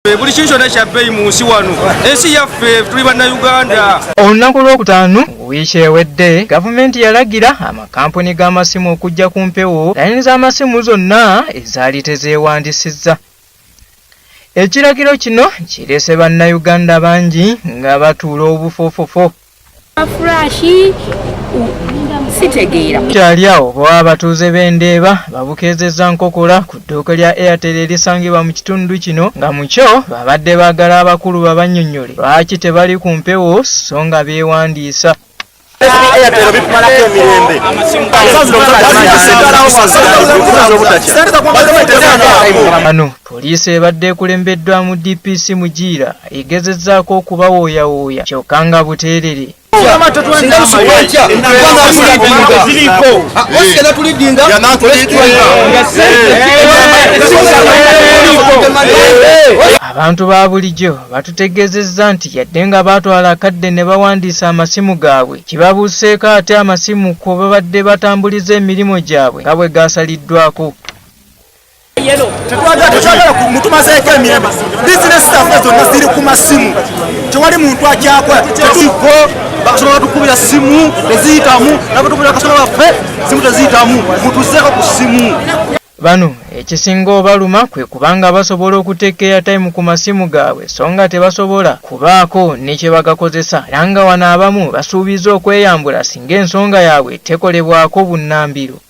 buli kintu kyonna kyabbeeyi mu nsi wano ensi yaffe tuli bannayuganda olunaku lwokutaano wiiki ewedde gavumenti yalagira amakampuni g'amasimu okujja ku mpewo layini z'amasimu zonna ezaali tezeewandisizza ekiragiro kino kireese bannayuganda bangi nga batuula obufoofofo kyali awo bwewa abatuuze b'endeeba babukeezezza nkokola ku ddooke lya airtel erisangibwa mu kitundu kino nga mu kyo babadde baagala abakulu babannyonnyole lwaki tebali ku mpewo so nga beewandiisa bano Poliisi ebadde ekulembeddwamu DPC Mugiira egezezzaako okubawooyawooya kyokka nga buteerere. Abantu ba bulijjo batutegeezezza nti yadde nga baatwala akadde ne bawandiisa amasimu gaabwe, kibabuuseeko ate amasimu kwe babadde batambuliza emirimu gyabwe nga bwe gaasaliddwako. tetwagala mutumazeeko emirembe bizinesi zaffe zonna ziri ku masimu tewali muntu akyakola tetuko bakasoma batukubira simu teziyitamu nabatukubira bakasoma baffe simu teziyitamu mutuzeeko ku simu bano ekisinga obaluma kwe kubanga basobola okuteeka eyataimu ku masimu gaabwe so nga tebasobola kubaako ne kye bagakozesa era nga wano abamu basuubiza okweyambula singa ensonga yaabwe tekolebwako bunnambiro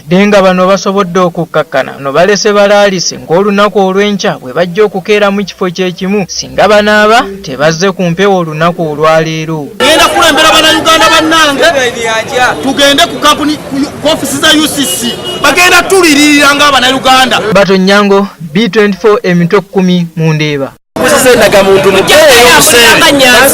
Wadde nga bano basobodde okukkakkana no balese balaalise ng'olunaku olw'enkya bwe bajja okukeera mu kifo kye kimu singa banaaba tebazze ku mpewo olunaku olwaleero. Ngenda kukulembera Bannayuganda bannange tugende ku kampuni ku ofisi za UCC bagenda tuliririra ng'Abannayuganda. Bato Nyango, B24 emitwe kkumi mu Ndeeba. Muzize endagamuntu mu